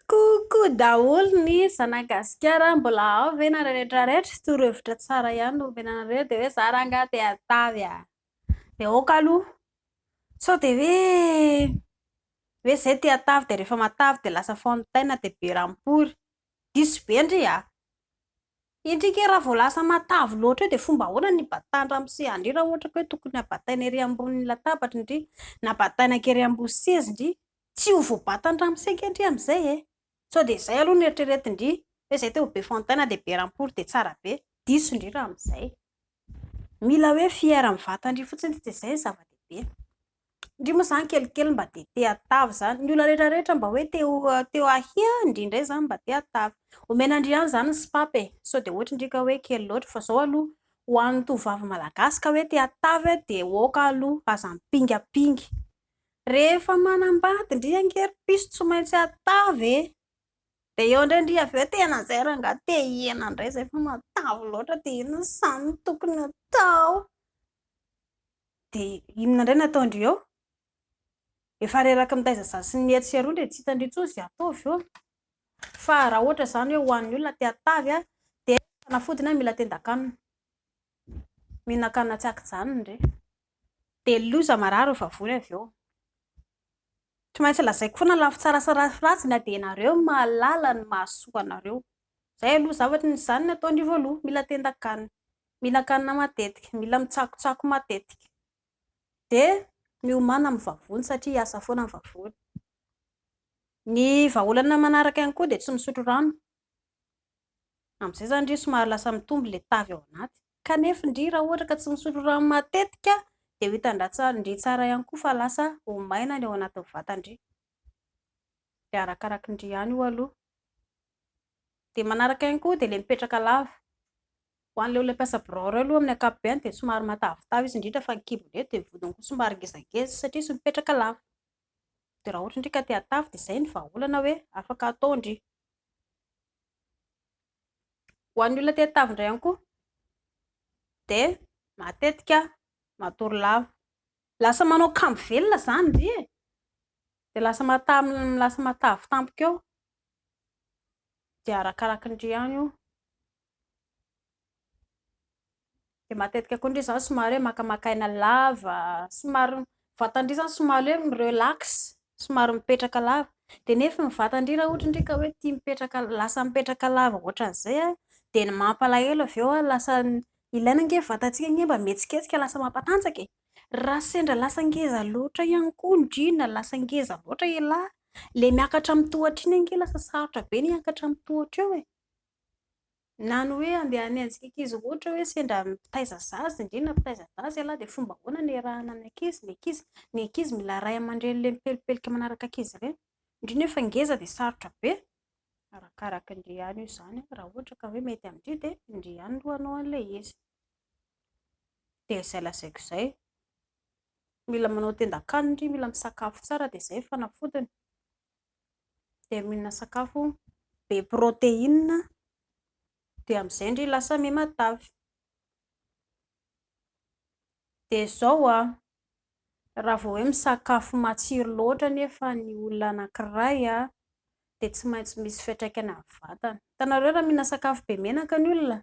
Coucou daholo ny zanagasikara mbola ao ve nareo rehetra rehetra torohevitra tsara ihany no omena anareo dia hoe za rangah te hatavy ah dia ok aloha sao dia hoe hoe zay te hatavy dia rehefa matavy dia lasa fontaine dia be rampory diso be ndry ah indry kay raha vao lasa matavy loatra eo dia fomba ahoana ny hibatahany ramose ndry raha ohatra ka hoe tokony habataina ery ambony latabatra ndry na bataina akery ambony seza ndry Tsy ho voabatan'ny ramoseka ndry amin'izay e! Sao dia izay aloha no eritreretin-dry hoe izay teo be fontaine dia be rampoly dia tsara be. Diso ndry raha amin'izay. Mila hoe fier amin'ny vatan-dry fotsiny tsy dia izay ny zava-dehibe. Ndry moa izany kelikely mba dia te hatavy izany. Ny olona rehetra rehetra mba hoe te ho te ho ahy an! ndry indray izany mba te hatavy. Omena ndry ihany izany ny sipapa e! Sao dia ohatry ndry ka hoe kely loatra fa izao aloha ho an'ny tovovavy malagasy ka hoe te hatavy dia ok aloha aza ampingapinga. Rehefa manambady ndry angery piso tsy maintsy atavy e! de eo ndray ndry avy eo tena zay rangah te hiena ndray zay fa matavy loatra de inona zany no tokony atao? de inona ndray no atao ndry eo? efa reraky mitaiza za sy ny etsy sy eroa ndry tsy hita ndry intsony ze atao avy eo fa raha ohatra zany hoe ho an'ny olona te atavy a de fanafodiny a mila tendan-kanina, mihinan-kanina tsy aky-janona ndry. Dia loza marary eo vavony avy eo. Tsy maintsy lazaiko foana ny lafy tsara sy ny lafy ratsy na dia ianareo no mahalala ny mahasoa anareo. Izay aloha zavatra, izany no atao ny voaloha, mila tendan-kanina, mila kanina matetika, mila mitsakotsako matetika. Dia miomàna amin'ny vavony satria hiasa foana ny vavony. Ny vahaolana manaraka ihany koa dia tsy misotro rano, Amin'izay izany ndry somary lasa mitombo ilay tavy ao anaty. Kanefa ndry raha ohatra ka tsy misotro rano matetika dia ho hitan-dra ndry tsara ihany koa fa lasa ho maina ny ao anatin'ny vata ndry. Dia arakaraky ndry ihany io aloha. Dia manaraka ihany koa dia ilay mipetraka lava. Ho an'ilay olona mpiasa birao ireo aloha amin'ny ankapobeny dia somary matavitavy izy indrindra fa ny kibo indray dia ny vodiny koa somary ngezangeza satria izy mipetraka lava. Dia raha ohatra ndry ka te hatavy dia izay ny vahaolana hoe afaka atao ndry. Ho an'ny olona te hatavy indray ihany koa dia matetika matory lava. Lasa manao kambo velona izany ndry e! Dia lasa matavy lasa matavy tampoka eo. Dia arakaraky ndry ihany io. Dia matetika koa ndry izaho somary hoe makamaka aina lava, somary vatan-dry izany somary hoe mi-relax, somary mipetraka lava. Dia nefa ny vatan-dry raha ohatra ndry ka hoe tia mipetraka lasa mipetraka lava ohatran'izay an, dia ny mampalahelo avy eo an, lasa ilaina ange ny vatantsika ange mba mihetsiketsika lasa mampatanjaka e! Raha sendra lasa ngeza loatra ihany koa ndry na lasa ngeza loatra ialahy, ilay miakatra amin'ny tohatra iny ange lasa sarotra be ny hiakatra amin'ny tohatra eo e! Na ny hoe andeha hanenjika ankizy ohatra hoe sendra mitaiza zaza, indrindra ny mitaiza zaza ialahy dia fomba ahoana no iarahana ny ankizy? Ny ankizy, ny ankizy mila ray aman-dreny le mipelipelika manaraka ankizy ireny. Indrindra efa ngeza dia sarotra be. Arakaraka an-dry ihany io izany raha ohatra ka hoe mety amin-dry dia ndry ihany aloha hanao an'ilay izy. Dia izay lazaiko izay. Mila manao tendan-kanina ndry, mila misakafo tsara dia izay ny fanafodiny. dia mihinana sakafo be protéine dia amin'izay ndry lasa miha matavy, dia izao an, raha vao hoe misakafo matsiro loatra anefa ny olona anankiray an, dia tsy maintsy misy fiantraikany amin'ny vatana, hitanareo raha mihinana sakafo be menaka ny olona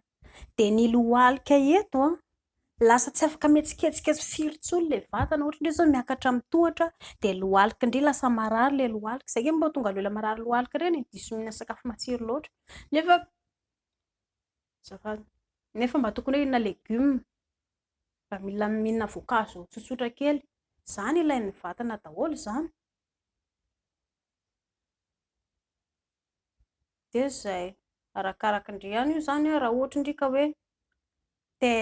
dia ny lohalika eto an, lasa tsy afaka mihetsiketsika tsy firy intsony ilay vatana, ohatra indray izao miakatra amin'ny tohatra dia lohalika indray, lasa marary ilay lohalika, izay angamba no mahatonga ny olona marary lohalika ireny e, diso mihinana sakafo matsiro loatra, nefa azafady, nefa mba tokony hoe hihinana legioma, mba mila mihinana voankazo tsotsotra kely, izany ilain'ny vatana daholo izany. dia izay, arakaraka ndry ihany io izany an, raha ohatra ndry ka hoe te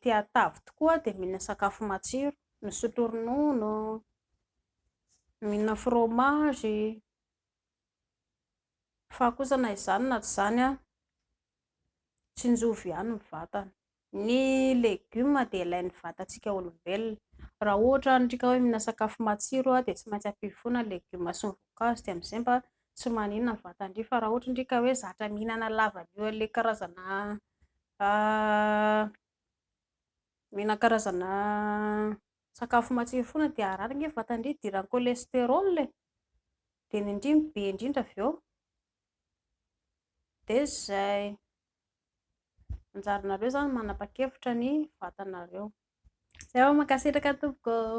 te hatavy tokoa dia mihinana sakafo matsiro, misotro ronono, mihinana fromage, fa kosa na izany na tsy izany an, tsinjovy ihany ny vatana. Ny legioma dia ilain'ny vatantsika olombelona. Raha ohatra ny rika hoe mihinana sakafo matsiro dia tsy maintsy ampio foana ny legioma sy ny voankazo dia amin'izay mba tsy maninona ny vatan-dry. Fa raha ohatra ny rika hoe zatra mihinana lavanio an'ilay karazana mihinana karazana sakafo matsiro foana dia harary ny vatan-dry, hidiran'ny cholesterol e! Dia ny indrimo be indrindra avy eo dia izay. Anjaranareo zany manapa-kevitra ny vatanareo. Zay ô, mankasitraka tompoko ô.